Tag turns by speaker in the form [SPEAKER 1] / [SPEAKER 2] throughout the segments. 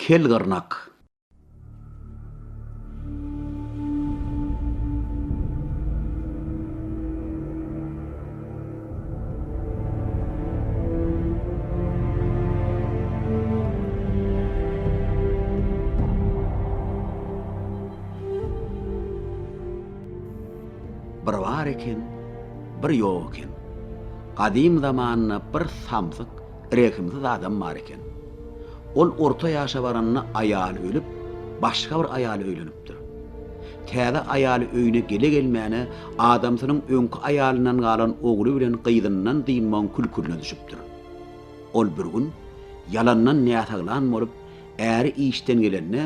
[SPEAKER 1] Kel gyrnak. Bir bar eken, bir ýok eken. Gadym zamanda bir samsyk rehimsiz adam bar eken. Ol orta ýaşa baranda aýaly ölüp, başga bir aýala öýlenipdir. Täze aýaly öýüne gele-gelmäne adamsynyň öňki aýalyndan galan ogly bilen gyzyndan dynmagyň kül-külüne düşüpdir. Ol bir gün ýalandan näsaglan bolup, äri işden gelende,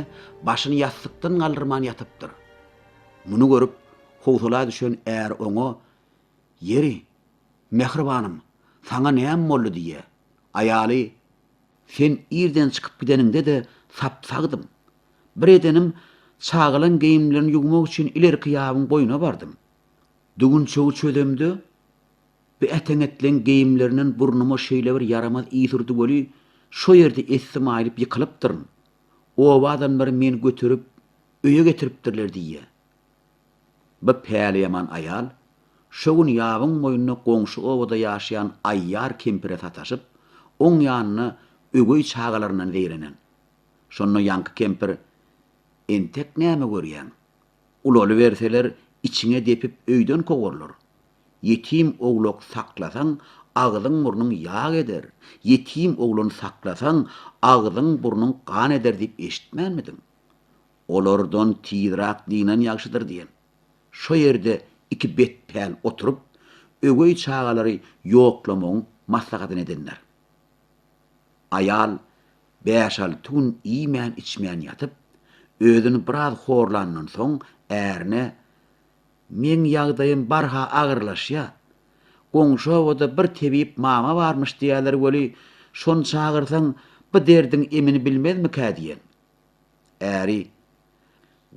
[SPEAKER 1] başyny ýassykdan galdyrman ýatypdyr. Muny görüp, howsala düşen äri oňa, Ýeri, Mähribanym, saňa näme boldy? diýýär. Aýaly, Sen irden çykyp gideniňde-de sap-sagdym. Bir edenim, çagalaň geýimlerini ýuwmak üçin ilerki ýabyň boýuna bardym. Düwünçegi çözemde, bu äteňetleň geýimlerinden burnuma şeýlebir ýaramaz ys urdy weli, şo ýerde essim aýlyp ýykylypdyryn. Oba adamlary meni göterip, öýe getiripdirler diýýär. Bu päliýaman aýal şo gün ýabyň boýunda goňşy obada ýaşaýan Aýýar kempire sataşyp, oň ýanyna öweý çagalaryndan zeýrenen. Şonda ýaňky kempir, Entek näme görýäň? Ulalyberseler, içiňe depip öýden kowarlar. Ýetim owlak saklasaň, agzyň-burnuň ýag eder, ýetim oglan saklasaň, agzyň-burnuň gan eder diýip eşitmänmidiň? Olardan tizrak dynan ýagşydyr diýen. Şo ýerde iki betpäl oturyp, öweý çagalary ýoklamagyň maslahatyny edenler. Aýal bäş-alty gün iýmän-içmän ýatyp, özüni biraz horlandan soň, ärine, Meň ýagdaýym barha agyrlaşýa. Goňşy obada bir tebip mama barmyş diýýäler weli, şony çagyrsaň, bu derdiň emini bilmezmikä diýen. Äri,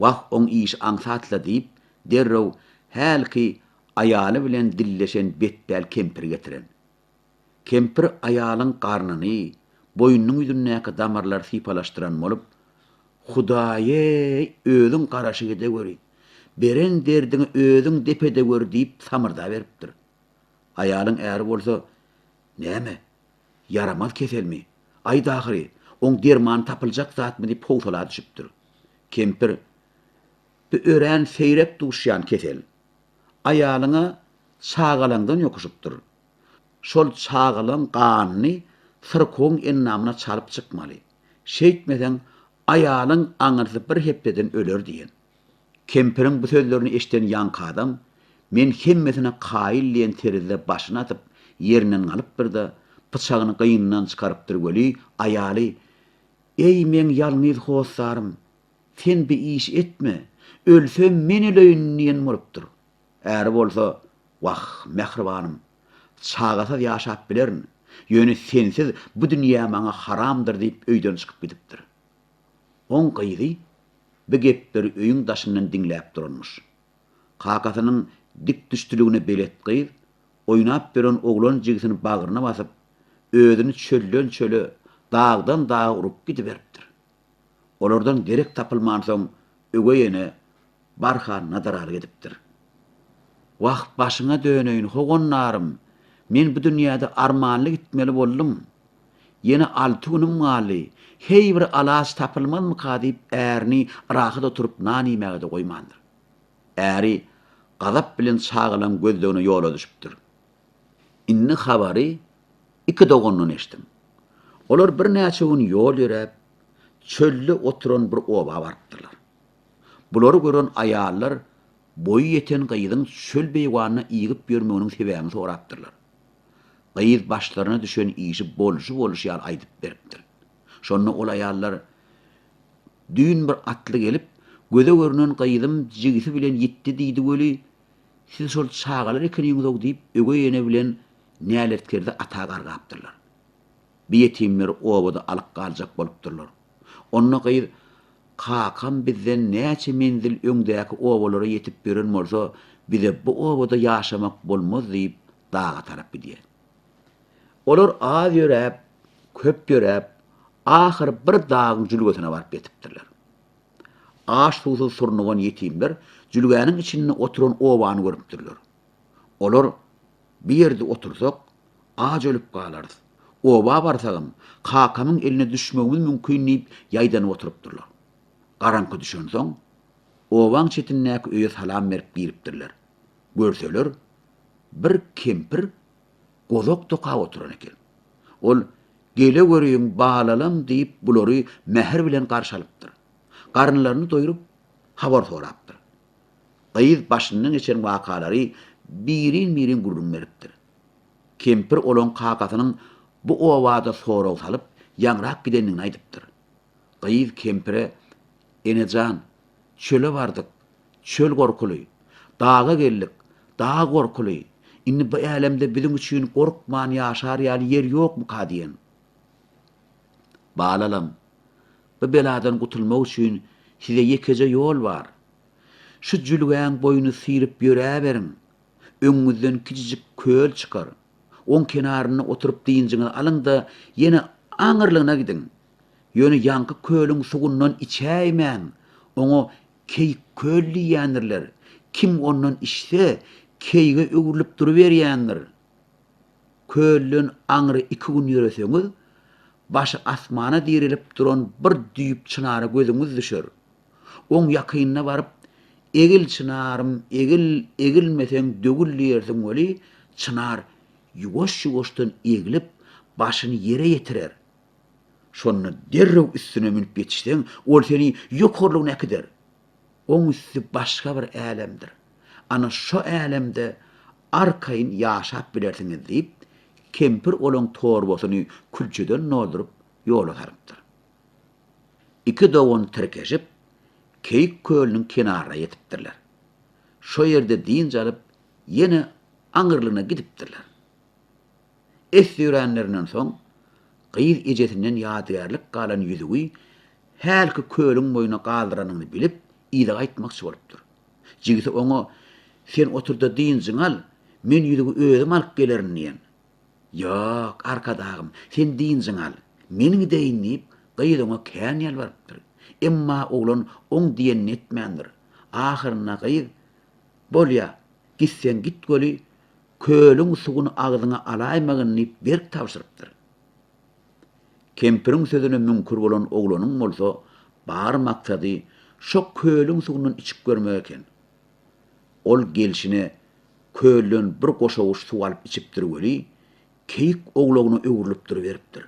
[SPEAKER 1] Wah, oň işi aňsat-la diýip, derrew hälki aýaly bilen dilleşen betpäl kempiri getiren. Kempir aýalyň garnyny, boýnunyň ýüzündäki damarlary sypalaşdyran bolup, Hudaý-eý, özüň garaşyp edeweri, beren derdiňi özüň dep edeweri diýip samyrdaberipdir. Aýalyň äri bolsa, Näme, Ýaramaz keselmi? Aýt ahyry, oň dermany tapyljak zatmy diýip howsala düşüpdir. Kempir, Bu örän seýrek duşýan kesel. Aýalyň-a çagalaňdan ýokuşypdyr. Şol çagalaň ganyny syrkawyň endamyna çalyp çykmaly. Şeýtmeseň, aýalyň aňyrsy bir hepdeden öler diýen. Kempiriň bu sözlerini eşiden ýaňky adam, Men hemmesine kaýyl diýen terzde başyny atyp, ýerinden galypdyr-da, pyçagyny gynyndan çykarypdyr weli, aýaly, Eý, meň ýalňyz hossarym, sen bi işi etme, ölsem men öleýin diýen bolupdyr. Äri bolsa, Wah, mähribanym, çagasyz ýaşap bilerin, ýöne sensiz bu dünýä maňa haramdyr diýip öýden çykyp gidipdir. Oň gyzy bi gepleri öýüň daşyndan diňläp duranmyş. Kakasynyň dikdüşdiligine belet gyz, oýnap ýören oglan jigisini bagryna basyp, özüni çölden-çöle, dagdan-daga urup gidiberipdir. Olardan derek tapylmansoň, öweý ene barha nadaraly gidipdir. Wah, başyňa döneýin, howannarym! Men bu dünýäde armanly gitmeli boldum. Ýene alty günüm galdy. Heý, bir alaç tapylmazmyka diýip, ärini rahat oturyp nan iýmäge-de goýmandyr. Äri gazap bilen çagalan gözlegine ýola düşüpdir. Indi habary iki dogandan eşitdim. Olar birnäçe gün ýol ýöräp, çölde oturan bir oba barypdyrlar. Bulary gören aýallar boýy ýeten gyzyň çöl beýwanyna ýygyp ýörmeginiň sebäbini sorapdyrlar. Gyz başlaryna düşen işi bolşy-bolşy ýaly aýdyp beripdir. Şonda ol aýallar, Düýn bir atly gelip, göze görünen gyzym jigisi bilen ýitdi diýdi weli, siz şol çagalar ekeniňiz-ow diýip, ögeý ene bilen näletkerdi ata gargapdyrlar. Bi ýetimleri obada alyp galjak bolupdyrlar. Onda gyz, Kakam bizden näçe menzil öňdäki obalara ýetip ýören bolsa, bize bu obada ýaşamak bolmaz diýip, daga tarap gidýär. Olar az ýöräp, köp ýöräp, ahyr bir dagyň jülgesine baryp ýetipdirler. Aç-suwsuz surnugan ýetimler jülgäniň içinde oturan obany görüpdirler. Olar, Bu ýerde otursak, Aç ölüp galarys. Oba barsagam, kakamyň eline düşmegimiz mümkin diýip ýaýdanyp oturypdyrlar. Garaňky düşensoň, obaň çetindäki öýe salam berip giripdirler. Görseler, bir kempir gozak dokap oturan eken. Ol, Gele görüň, balalam diýip, bulary mähir bilen garşy alypdyr. Garynlaryny doýrup, habar sorapdyr. Gyz başyndan geçen wakalary birin-birin gürrüň beripdir. Kempir olaň kakasynyň bu obada sorag salyp, ýaňrap gidendigini aýdypdyr. Gyz kempire, Ene jan, çöle bardyk, çöl gorkuly, daga geldik, dag gorkuly, indi bu älemde biziň üçin gorkman ýaşar ýaly ýer ýokmyka diýen. Balalam, bu beladan gutulmak üçin size ýekeje ýol bar. Şu jülgäň boýuny syryp ýöräberiň, Öňüňizden kiçijik köl çykar. Oň kenarynda oturyp dynjyňyzy alyň-da, ýene aňyrlygyna gidiň. Ýöne ýaňky kölüň suwundan içäýmäň. Oňa Keýik köl diýýändirler. Kim ondan içse, keýige öwrülip duruberýändir. Kölden aňry iki gün ýöreseňiz, başy asmana direlip duran bir düýp çynara gözüňiz düşer. Oň ýakynyna baryp, Egil, çynarym, egil, egilmeseň döwül diýersiň weli, çynar ýuwaş-ýuwaşdan eglip, başyny ýere ýetirer. Şonda derrew üstüne münüp ýetişseň, ol seni ýokarlygyna äkider. Oň üsti başga bir älemdir. Ana şo älemde arkaýyn ýaşap bilersiňiz diýip, kempir olaň torbasyny külçeden dolduryp, ýola salypdyr. Iki dogan tirkeşip, Keýik kölüniň kenaryna ýetipdirler. Şo ýerde dynç alyp, ýene aňyrlygyna gidipdirler. Es ýöränlerinden soň, gyz ejesinden ýadygärlik galan ýüzügi hälki kölüň boýuna galdyranyny bilip, yza gaýtmakçy bolupdyr. Jigisi oňa, Sen otur-da dynjyňy al, men ýüzügi özüm alyp gelerin diýen. Ýok, Arkadagym, sen dynjyňy al, men gideýin diýip, gyz oňa kän ýalbarypdyr. Emma oglan oň diýenini etmändir. Ahyrynda gyz, Bolýa, gitseň git weli, kölüň suwuny agzyňa alaýmagyn diýip berk tabşyrypdyr. Kempiriň sözüne müňkür bolan oglanyň bolsa bar maksady şo kölüň suwundan içip görmek eken. Ol gelşine kölden bir goşawuş suw alyp içipdir weli, keýik owlagyna öwrülip duruberipdir.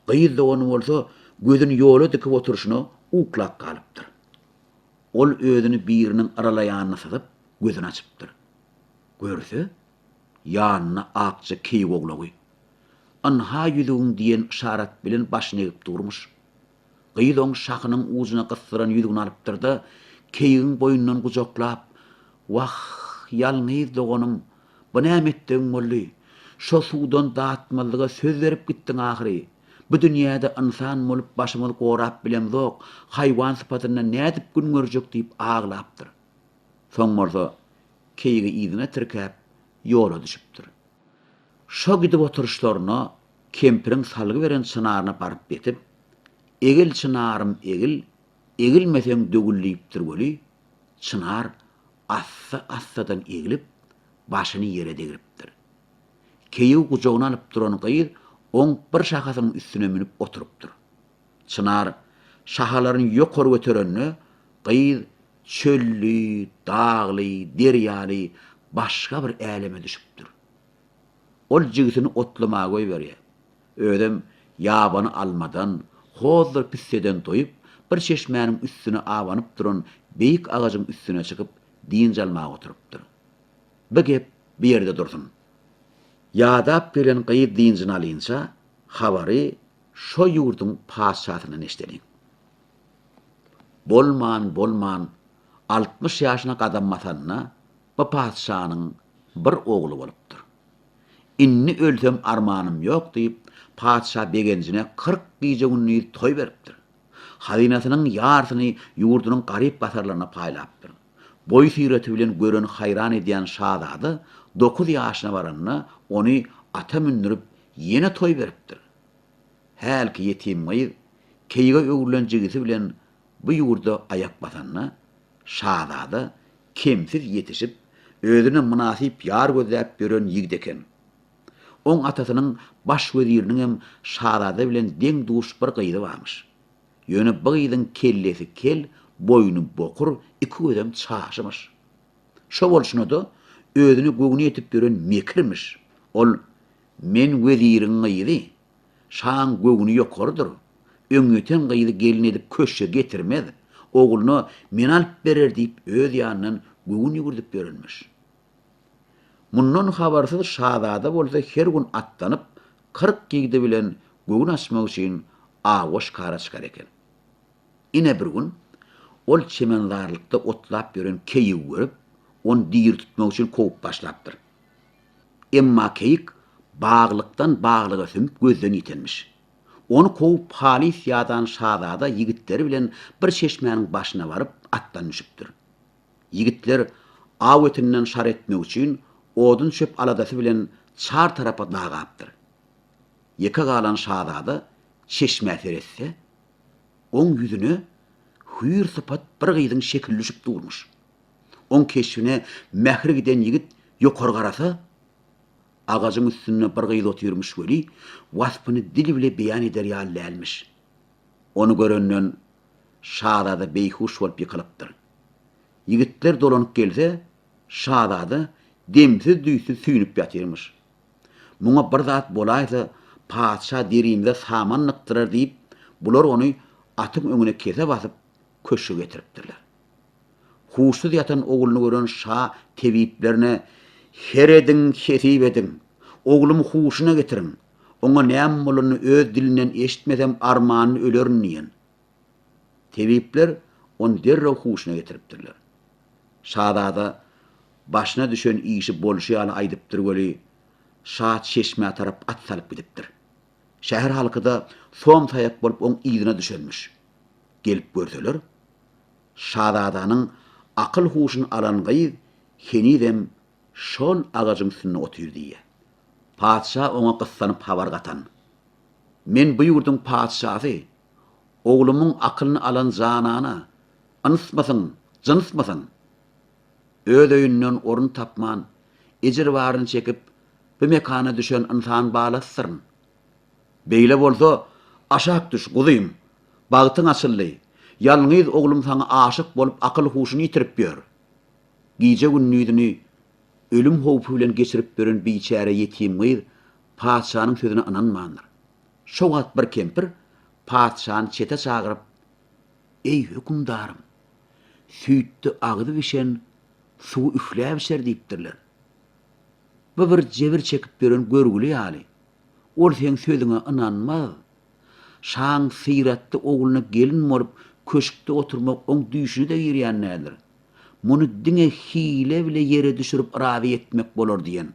[SPEAKER 1] Gyz dogany bolsa gözüni ýola dikip oturyşyna uklap galypdyr. Ol özüni biriniň yralaýanyna syzyp, gözüni açypdyr. Görse, ýanynda akja keýik owlagy. Ynha ýüzügiň diýen yşarat bilen başyny egip durmuş. Gyz oň şahynyň ujuna gysdyran ýüzügini alypdyr-da, keýigiň boýundan gujaklap, Wah, ýalňyz doganym, bu näme etdigiň boldy? Şo suwdan datmazlyga söz berip gitdiň ahyry. Bu dünýäde ynsan bolup başymyzy gorap bilemzok, haýwan sypatynda nädip gün görjek diýip aglapdyr. Soň bolsa keýigi yzyna tirkäp, ýola düşüpdir. Şo gidip oturyşlaryna kempiriň salgy beren çynaryna baryp ýetip, Egil, çynarym, egil, egilmeseň döwül diýipdir weli, çynar assa-assadan egilip, başyny ýere degripdir. Keýiw gujagyna alyp duran gyz oň bir şahasynyň üstüne münüp oturypdyr. Çynar şahalaryny ýokary göterende, gyz çölli, dagly, derýaly başga bir äleme düşüpdir. Ol jigisini otlamaga goýberýär. Özem ýabany almadan, hozdur pisseden toýup, bir çeşmäniň üstüne abanyp duran beýik agajyň üstüne çykyp, dynç almaga oturypdyr. Bi gep bi ýerde dursun. Ýadap gelen gyz dynjyny alynça, habary şo ýurduň patyşasyndan eşideliň. Bolman-bolman altmyş ýaşyna gadam basanda, Bu patyşanyň bir ogly bolupdyr. Indi ölsem armanym ýok diýip, patyşa begenjine kyrk gije-gündiz toý beripdir. Hazynasynyň ýarsyny ýurdunyň garyp-gasarlaryna paýlapdyr. Boý-syrety bilen gören haýran edýän şazada dokuz ýaşyna baranda ony ata mündürip ýene toý beripdir. Hälki ýetim gyz keýige öwrülen jigisi bilen bu ýurda aýak basanda, şazada kemsiz ýetişip, özüne mynasyp ýar gözläp ýören ýigit eken. Oň atasynyň baş weziriniňem şazada bilen deň-duş bir gyzy barmyş. Ýöne bu gyzyň kellesi kel, boýny bokur, iki gözem çaşymyş. Şo bolşuna-da, özüne göwni ýetip ýören mekirmiş. Ol Men weziriň gyzy, Şaň göwni ýokarydyr. Öňýeten gyzy gelin edip köşge getirmez. Ogluna men alyp berer diýip öz ýanyndan göwün ýüwürdip ýörenmiş. Mundan habarsyz şazada bolsa her gün atlanyp, kyrk ýigdi bilen göwün açmak üçin awa şikara çykar eken. Ine bir gün ol çemenzarlykda otlap ýören keýigi görüp, ony diri tutmak üçin kowup başlapdyr. Emma keýik baglykdan baglyga sümüp gözden ýitenmiş. Ony kowup halys ýadan şazada ýigitleri bilen bir çeşmäniň başyna baryp atdan düşüpdir. Ýigitler aw etinden şar etmek üçin odun-çöp aladasy bilen çar tarapa dagapdyr. Ýeke galan şazada çeşmä seretse, oň ýüzüne hüýr sypat bir gyzyň şekili düşüp durmuş. Oň keşbine mähri giden ýigit ýokary garasa, agajyň üstünde bir gyz otyrmyş weli, waspyny dil bile beýan eder ýaly dälmiş. Ony görenden şazada beýhuş bolup ýykylypdyr. Ýigitler dolanyp gelse, şazada demsiz-düýtsüz süýnüp ýatyrmyş. Muňa bir zat bolaýsa, patyşa derimize saman nykdyrar diýip, bular ony atyň öňüne kese basyp, köşge getiripdirler. Huşsuz ýatan ogluny gören şa tebiplerine, Serediň, hesip ediň! Oglumy huşuna getiriň! Oňa näme bolanyny öz dilinden eşitmesem, armanda ölerin diýen. Tebipler ony derrew huşuna getiripdirler. Şazada başyna düşen işi bolşy ýaly aýdypdyr weli, şa çeşmä tarap at salyp gidipdir. Şäher halky-da som-saýak bolup oň yzyna düşenmiş. Gelip görseler, şazadanyň akyl-huşuny alan gyz henizem şol agajyň üstünde otyr diýýär. Patyşa oňa gyssanyp habar gatan. Men bu ýurduň patyşasy, oglumyň akylyny alan janana, ynsmysyň, jynsmysyň? Öz öýünden orun tapman, ejir baryny çekip, Bu mekana düşen ynsan balasysyryn. Beýle bolsa, aşak düş, guzym. Bagtyň açyldy. Ýalňyz oglum saňa aşyk bolup akyl-huşuny ýitirip ýör. Gije-gündizini ölüm howpy bilen geçirip ýören biçäre ýetim gyz patyşanyň sözüne ynanmandyr. Şo wagt bir kempir patyşany çete çagyryp, Eý, hökümdarym! Süýtde agyzy bişen suwy üfläp içer diýipdirler. Bu bir jebir çekip ýören görgüli ýaly. Ol seň sözüňe ynanmaz. Şaň syratly ogluna gelin bolup köşkde oturmak oň düýşüne-de girýän däldir. Muny diňe hile bile ýere düşürip razy etmek bolar diýen.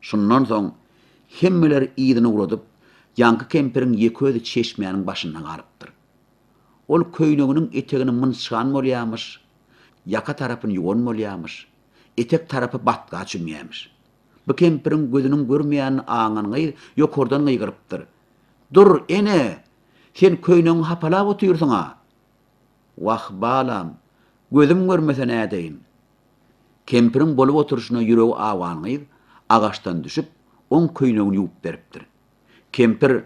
[SPEAKER 1] Şundan soň hemmeler yzyny ugradyp, ýaňky kempiriň ýeke özi çeşmäniň başynda galypdyr. Ol köýneginiň etegini mynçgan bolýamyş, ýaka tarapyny ýuwan bolýamyş. etek tarapy batga çümýämiş. Bu kempiriň gözüniň görmeýänini aňan gyz ýokardan gygyrypdyr, Dur, ene! Sen köýnegiňi hapalap otyrsyň-a! Wah, balam, gözüm görmese nädeýin? Kempiriň bolup oturyşyna ýüregi awan gyz agaçdan düşüp, oň köýnegini ýuwup beripdir. Kempir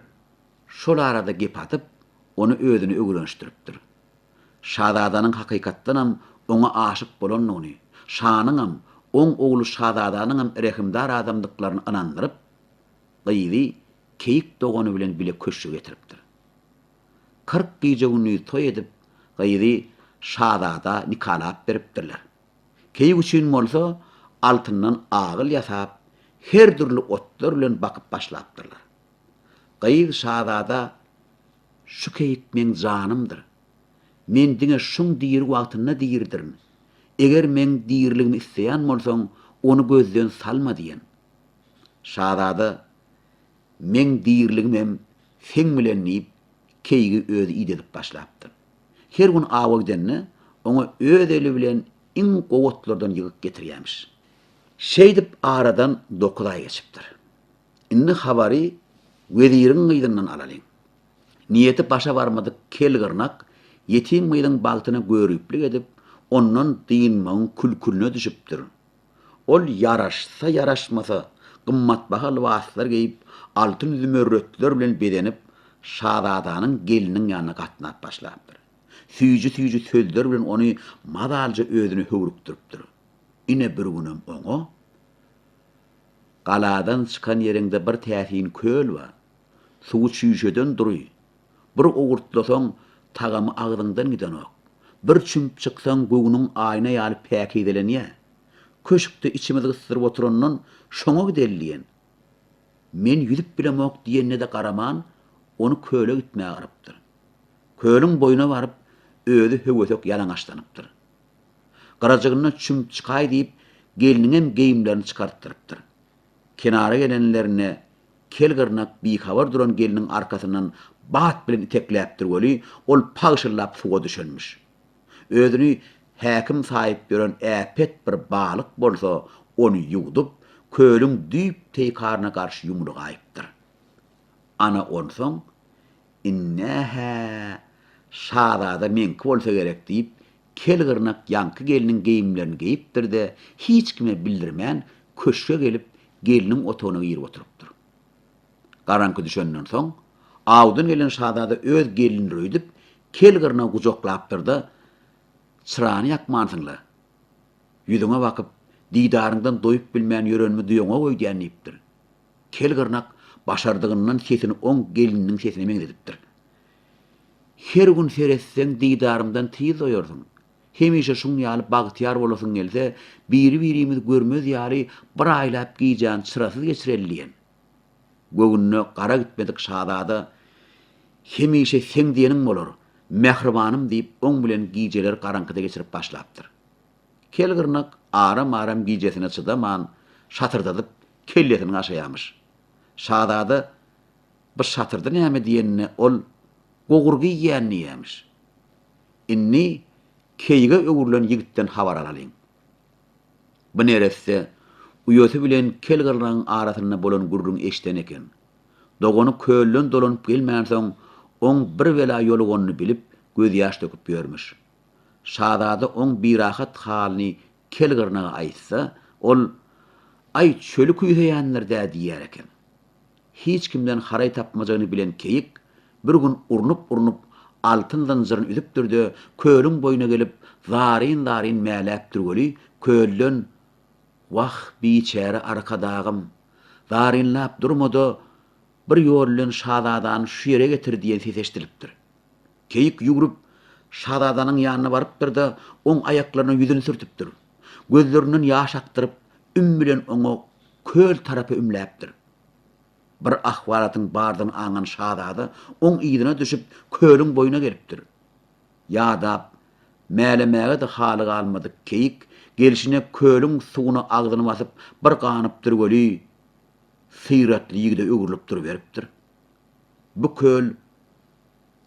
[SPEAKER 1] şol arada gep atyp, ony özüne öwrenişdiripdir. Şazadanyň hakykatdanam oňa aşyk bolandygyny, şanyňam, oň ogly şazadanyňam rehimdar adamdyklaryny ynandyryp, gyzy keýik dogany bilen bile köşge getiripdir. Kyrk gije-gündiz toý edip, gyzy şazada nikalap beripdirler. Keýik üçin bolsa altyndan agyl ýasap, her dürli otlar bilen bakyp başlapdyrlar. Gyz şazada Şu keýik meň janymdyr. Men diňe şuň diri wagtynda diridirin. Eger meň diriligimi isleýän bolsaň, ony gözden salma diýen. Şazada, Meň diriligim hem seň bilen diýip, keýigi özi idedip başlapdyr. Her gün awa gidende, oňa öz eli bilen iň gowy otlardan ýygyp getirýämiş. Şeýdip aradan dokuz aý geçipdir. Indi habary weziriň gyzyndan alalyň. Niýeti başa barmadyk kel gyrnak ýetim gyzyň bagtyna göriplik edip, ondan dynmagyň kül-külüne düşüpdir. Ol ýaraşsa-ýaraşmasa, gymmatbaha lybaslar geýip, altyn-zümerretler bilen bezenip, şazadanyň gelniniň ýanyna gatnap başlapdyr. Süýji-süýji sözler bilen ony mazalyja özüne höwrükdiripdir. Ine bir günem oňa. Galadan çykan ýeriňde bir täsin köl bar. Suwy çüýşeden dury. Bir owurtlasaň, tagamy agzyňdan gidenok. Bir çümüp çyksaň, göwnüň aýna ýaly päkizelenýär. Köşkde içimiz gysdyryp oturandan şoňa gideli diýen. Men ýüzüp bilemok diýenine-de garaman, ony köle gitmäge yrypdyr. Kölüň boýuna baryp, özi höwesek ýalaňaçlanypdyr. Gyrajygynda çümüp çykaý diýip, gelniňem geýimlerini çykartdyrypdyr. Kenara gelenlerinde kel gyrnak bihabar duran gelniň arkasyndan bat bilen itekläpdir weli, ol pagşyllap suwa düşenmiş. Özüni häkim saýyp ýören äpet bir balyk bolsa ony ýuwdup, kölüň düýp teýkaryna garşy ýumrugaýypdyr. Ana onsoň Ine-hä, şazada meňki bolsa gerek diýip, kel gyrnak ýaňky gelniň geýimlerini geýipdir-de, hiç kime bildirmän, köşge gelip, gelniň otagyna girip oturypdyr. Garaňky düşenden soň, awdan gelen şazada öz gelnini öýdüp, kel gyrnagy gujaklapdyr-da, Çyrany ýakmansyň-la! Ýüzüňe bakyp, didaryňdan doýup bilmän ýörenimi duýaňok öýdýän diýipdir. Kelgyrnak başardygyndan sesini oň gelininiň sesine meňzedipdir. Her gün seretseň didarymdan tiz doýarsyň. Hemişe şuň ýaly bagtyýar bolasyň gelse, biri-birimizi görmez ýaly bir aýlap gijäni çyrasyz geçireli diýen. Göwnüne gara gitmedik şazada Hemişe seň diýeniň bolar, mähribanym diýip oň bilen gijeleri garaňkyda geçirip başlapdyr. Kelgyrnak aram-aram gijesine çydaman, şatyrdadyp kellesini gaşaýarmyş. Şazada bu şatyrdy näme diýenine ol Gogur giýýän diýýärmiş. Indi keýige öwrülen ýigitden habar alalyň. Bu neresse uýasy bilen kel gyrlagyň arasynda bolan gürrüňi eşiden eken. Dogany kölden dolanyp gelmänsoň, oň bir bela ýoluganyny bilip, gözýaş döküp ýörmüş. Şazada oň birahat halyny Kel gyrnaga aýtsa, ol, Aý, çöli küýseýänler-dä diýer eken. Hiç kimden haraý tapmajagyny bilen keýik bir gün urnup-urnup, altyn zynjyryny üzüpdir-de, kölüň boýuna gelip, zaryn-zaryn mäläpdir weli, kölden, Wah, biçäre Arkadagym! Zarynlap durma-da, bir ýol bilen şazadany şu ýere getir diýen ses eşidilipdir. Keýik ýüwrüp, şazadanyň ýanyna barypdyr-da, oň aýaklaryna ýüzüni sürtüpdir. Gözlerinden ýaş akdyryp, üm bilen oňa köl tarapa ümläpdir. Bir ahwalatyň bardygyny aňan şazada oň yzyna düşüp, kölüň boýuna gelipdir. Ýadap, mälemäge-de haly galmadyk keýik gelşine kölüň suwuna agzyny basyp, bir ganypdyr weli, syratly ýigide öwrülip duruberipdir. Bu köl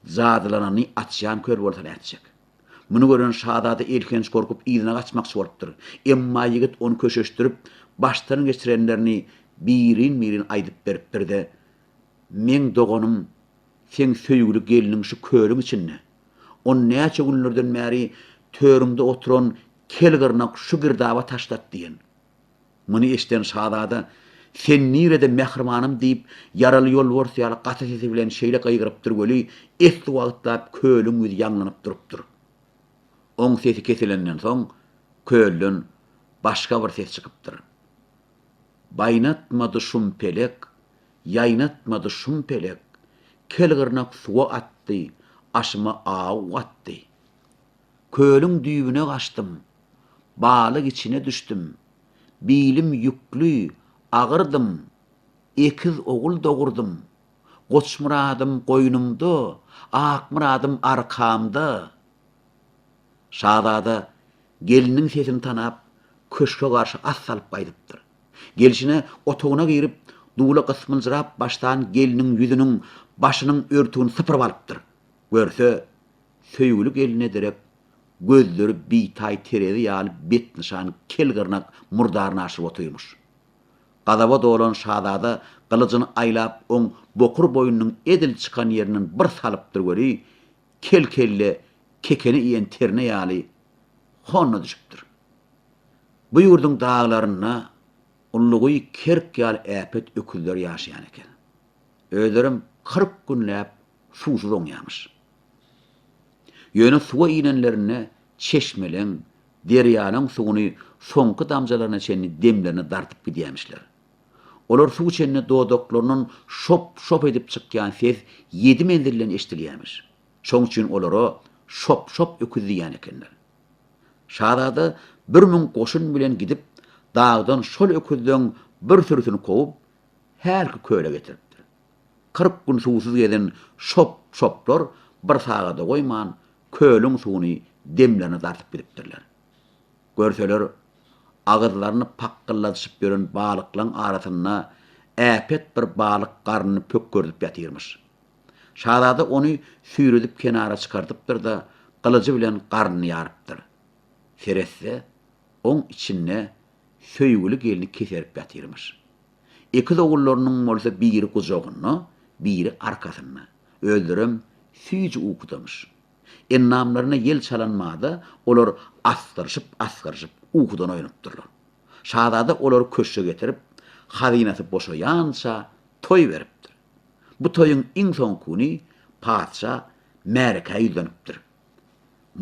[SPEAKER 1] jadylanany açýan köl bolsa nätjek? Muny gören şazada elhenç gorkup yzyna gaçmakçy bolupdyr. Emma ýigit ony köşeşdirip, başdan geçirenlerini birin-birin aýdyp beripdir-de, Meň doganym, seň söýgüli gelniň şu kölüň içinde. Ony näçe günlerden bäri törüňde oturan kel gyrnak şu girdaba taşlat diýen. Muny eşden şazada, Sen nirede, mähribanym? diýip, ýaraly ýolbars ýaly gaty sesi bilen şeýle gygyrypdyr weli, esli wagtlap kölüň ýüzi ýaňlanyp durupdyr. Oň sesi kesilenden soň, kölden başga bir ses çykypdyr. Baýnatmady şum pelek, ýaýnatmady şum pelek, Kelgyrnak suwa atdy, aşyma aw gatdy. Kölüň düýbüne gaçdym. Balyk içine düşdüm. Bilim ýükli, agyrdym. Ekiz ogul dogurdym. Goçmyradym goýnumda, Akmyradym arkamda. Şazada gelniň sesini tanap, köşge garşy at salyp gaýdypdyr. Gelşine otagyna girip, dula gysmyljyrap başlan gelniň ýüzüniň, başynyň örtügini sypyryp alypdyr. Görse, Söýgüli gelne direk, gözleri bitaý terezi ýaly betnyşan kel gyrnak murdaryny aşyryp otyrmyş. Gazaba dolan şazada gylyjyny aýlap oň bokur boýnunyň edil çykan ýerinden bir salypdyr weli, kel kelle kekeni iýen terne ýaly honna düşüpdir. Bu ýurduň daglarynda ullugy kerk ýaly äpet öküzler ýaşaýan eken. Özlerem kyrk günläp suwsuz oňýarmyş. Ýöne suwa inenlerinde çeşmeleň, derýalaryň suwuny soňky damjalaryna çenli demlerine dartyp gidýärmişler. Olar suw içende dodaklaryndan şop-şop edip çykýan ses ýedi menzilden eşidilýärmiş. Şoň üçin olara Şop-şop öküz diýýän ekenler. Şazada bir müň goşun bilen gidip, dagdan şol öküzleň bir sürüsini kowup, hälki köle getiripdir. Kyrk gün suwsuz gezen şop-şoplar bir sagada goýman, kölüň suwuny demlerine dartyp gidipdirler. Görseler, agyzlaryny pakgylladyşyp ýören balyklaryň arasynda äpet bir balyk garnyny pökgerdip ýatyrmyş. Şazada ony süýredip kenara çykardypdyr-da, gylyjy bilen garnyny ýarypdyr. Seretse, oň içinde söýgüli gelni keserip ýatyrmyş. Ekiz ogullarynyň bolsa biri gujagynda, biri arkasynda. Özlerem süýji ukudamyş. Endamlaryna ýel çalan bada olar asgyryşyp-asgyryşyp ukudan oýanypdyrlar. Şazada olary köşge getirip, hazynasy boşaýança toý beripdir. Bu toýuň iň soňky güni patyşa märekä ýüzlenipdir.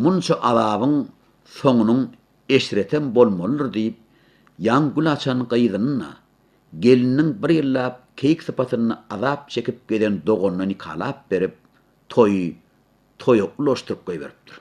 [SPEAKER 1] Munça azabyň soňunyň Eşretem bolmalydyr diýip, ýaňy gül açan gyzyny-da, gelininiň bir ýyllap keýik sypatynda azap çekip gezen doganyna nikalap berip, toýy toýa ulaşdyryp goýberipdir.